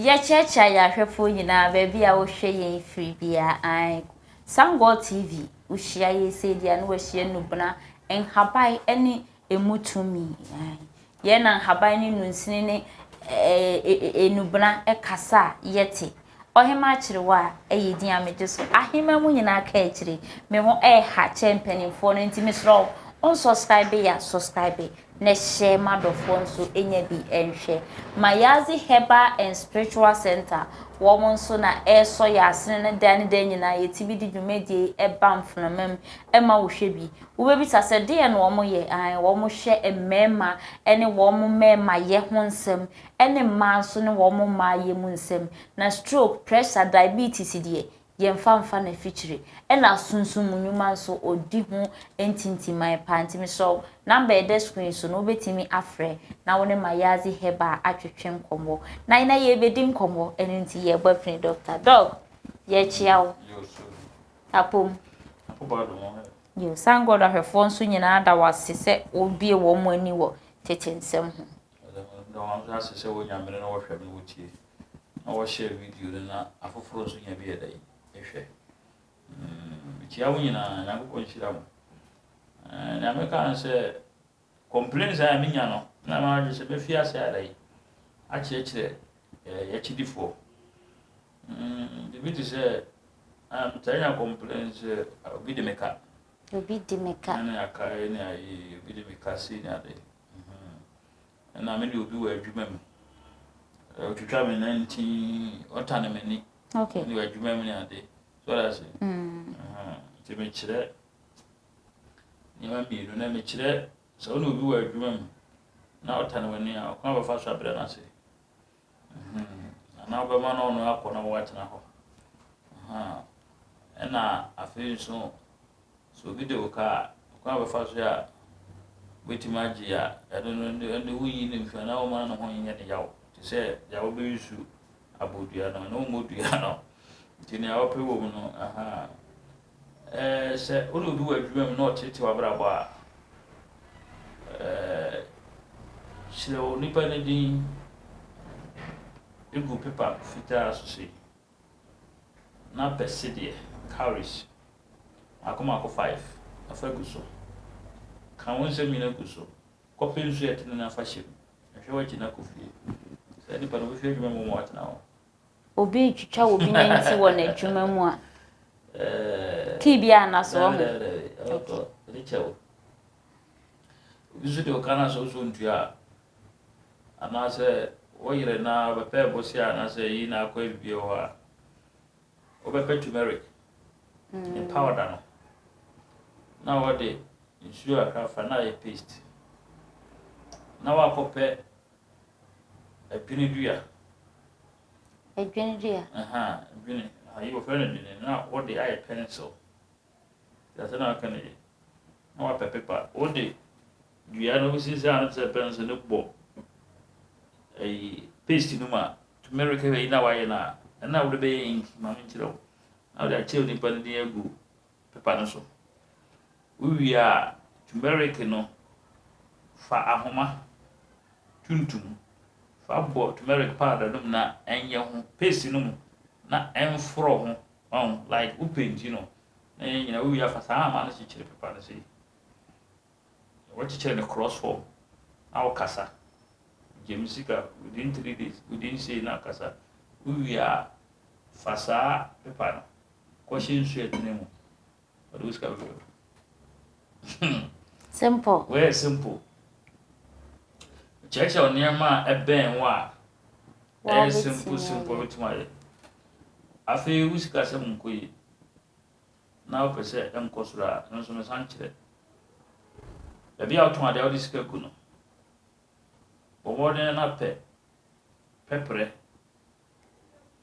Yɛkyeakyea yɛn ahwɛfoɔ nyinaa baabi a wohwɛ yɛn firi biara ae Sangor TV wohyia yɛ sei deɛ a na wahyia Nubena nhaban ne emu tumi. Yɛn na nhaban ne nnunsini ne ɛɛ nnubena kasa a yɛte. Ɔhemmaa akyerewa a yɛ din a megye so. Ahemmaa mu nyinaa ka akyire. Me ho reha kyɛ mpanimfoɔ no nti mesrɛ wo wonsɔskraibe a sɔskraibe na hyɛ m'adɔfoɔ nso nya bi nhwɛ. Mayazi Herbal and Spiritual Center wɔn nso na ɛresɔ yɛn asene no daa ne daa nyinaa yɛte bi de dwumadie yi ba mfenamam ma wohwɛ bi. Wobɛbisa sɛ, Deɛn na wɔyɛ? Aane, wɔhwɛ mmarima ne wɔn mmarimayɛ ho nsɛm, ne mmaa nso ne wɔn mmaayɛ mu nsɛm. Na stroke, pressure, diabetes deɛ, yɛmfa mfa no afikyire. Ɛna sunsum mu nnwuma nso, ɔdi ho ntintiman paa. Nti mesrɛ wo, number a ɛda screen so no, wobɛtumi afrɛ na wo ne Mayazi Herbal atwetwe nkɔmmɔ. Na na yɛrebɛdi nkɔmmɔ, ɛno nti yɛrebɔ afini Dɔkta. Dɔk, yɛkyea wo. Apom. Yiw, saa nguan dɔhwɛfo nso nyinaa da wo ase sɛ wobue wɔn ani wɔ tete nsɛm ho. Ɛda wɔn nso ase sɛ wonya mmere na wɔhwɛ na wotie, na wɔhyɛ video no na afoforo nso nya bi yɛ dɛn? Hwɛ. Mikyia wo nyinaa. Nyankopɔn nhyira mo. Nea mɛka ne sɛ, Complaints a menya no, na m'adwene sɛ mɛfi ase ara yi akyerɛkyerɛ y'akyidifoɔ. Mm, biribi te sɛ, um, taa nya complaints sɛ uh, obi de me ka. Obi de me ka. Ɛna aka ɛna ayi, obi de me ka si ne ade. Mhm. Ɛna me de obi wɔ adwuma mu. Ɔtwitwa me nantin, ɔtane m'ani. Okay. Ne wɔ adwuma mu ne ade. So that's it. Mm. Uh-huh. Nti mekyerɛ. nneɛma mmienu. Nnɛ, mekyerɛ sɛ wo ne obi wɔ adwuma mu na ɔtane w'ani a, ɔkwan bɛfa so abrɛ no ase. Anaa wobɛma no ɔno akɔ na woatena hɔ. Ɛna afei nso, sɛ obi de wo ka a, ɔkwan bɛfa so a wobɛtumi agye a ɛno no ɛno de woyi no mfi anaa woma no ho nyɛ ne yaw te sɛ deɛ wobɛyi nsu abɔ dua no ɛno mmɔ dua no nti nea wopɛ wɔ mu no aha Sɛ wo ne obi wɔ adwuma mu na ɔteetee w'abrabɔ a, kyerɛw onipa no din gu pepa fitaa so sei, na pɛ sedeɛ, cowries, mmaako mmaako five na fa gu so. Ka wo nsɛm nyinaa gu so. Kɔpɛ nsu a ɛtene na fa hyɛ mu. Hwɛ w'akyi na kɔ fie. Saa nipa no, wobɛfiri adwuma mu ma watena hɔ. Obi retwitwa obi nanti wɔ n'adwuma mu a, kii bi a na so wɔ ho. Ɔtɔ ne kyɛw. Obi nso de ɔka no asɛ ɔsɔ ntua a, anaasɛ wɔyere na ɔbɛpɛ bose a anaasɛ yi na akɔ ebi wɔ hɔ a, wɔbɛpɛ turmeric ne mm. powder no na wɔde nsuo akra fa na ayɛ paste na wakɔpɛ Adwene dua. Adwene dua. Aha, adwene. Ayi wɔfrɛ no adwene na wɔde ayɛ pencil. Te ase na aka no yɛ. Na wapɛ pepa. Wode dua no wosisi ano te sɛ pencil no bɔ ayi paste no mu a turmeric ayi na wayɛ no a ɛna wode bɛyɛ ink ma menkyerɛ wo. Na wode akyerɛ nipa no din agu pepa no so. Wowie a, tumeriki no, fa ahoma tuntum fa bɔ tumeriki powder no mu na ɛnyɛ ho paste no mu na ɛmforɔ ho, like wo painti no na ɛnyɛ nyina. Wowie a, fa saa ahoma no kyekyere pepa no sei. Wɔkyekyere no cross form na ɔkasa. Gye me sika within three days, within sei na kasa. Wowie a, fa saa paper no kɔhyɛ nsu a ɛtene mu. Ɔde wo sika bɛbrɛ wo. Hmm. Simple. Wɔyɛ simple. Kyerɛkyerɛ nneɛma a ɛbɛn wo a ɛyɛ simple simple bɛtumi ayɛ. Afei wo sikasɛm nkɔ yie. na wopɛ sɛ ɛnkɔ soro a, ɛno nso mesan kyerɛ. Baabi a wotɔn ade a wode sika gu no, bɔ mmɔden na pɛ pɛprɛ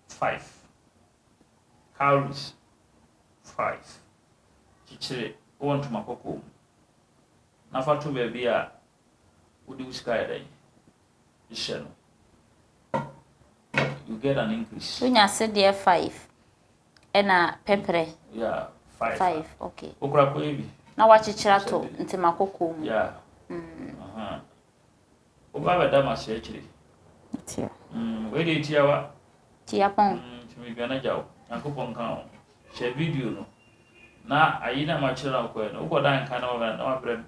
five, cowries five, kyekyere wɔ ntoma kɔkɔɔ mu na fa to baabi a wode wo sika yɛ dɛn hyɛ no. You get an increase. Wonya sedeɛ five. Ɛna pɛprɛ. Yeah, five. Five, okay. Okura kɔ ebi. Na wakyekyere ato ntoma kɔkɔɔ mu. Yeah. Mm. Aha. Oba bɛda ma se akyire. Tia. Mm, wei de tia wa. Tia pɔn. Mm, tumi dwana gya wo. Nyankopɔn ka wo. Hyɛ video no. Na ayi na ma kyerɛ na wokɔɛ no. Wokɔ da nka na wabrɛ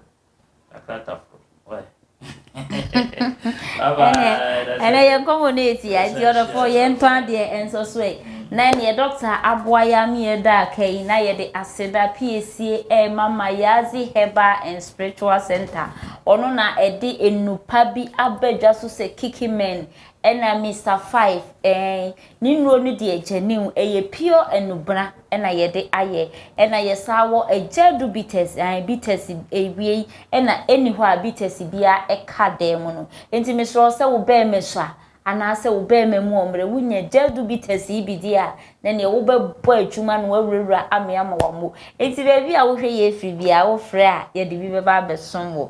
ɛnɛ yɛn kɔmɔ no ɛtia nti ɔdɔfoɔ yɛntɔ adeɛ ɛnsɔ so ɛ na ɛneɛ dɔkta aboa yɛ ama yɛda aka yi na yɛde aseda piesie ɛma ma yɛadze herbal and spiritual center ɔno na ɛde nnupa bi abɛdwa so sɛ kiki men ɛna mr five ɛn Ne nnuro no deɛ gyanim, ɛyɛ pure anubena na yɛde ayɛ. Ɛna yɛsan wɔ agya du bitters, ae bitters awiei na ɛnni hɔ a bitters biara ka dan mu no. Enti mesrɛ wo sɛ wo barima su a, anaasɛ wo barima mu ɔmmerɛ, wonya agya du bitters yi bi di a, na neɛ wobɛbɔ adwuma no w'awurawura amee ama wammu. Enti baabi a wohwɛ yɛn firi biara, wofrɛ a yɛde bi bɛba abɛsom wo.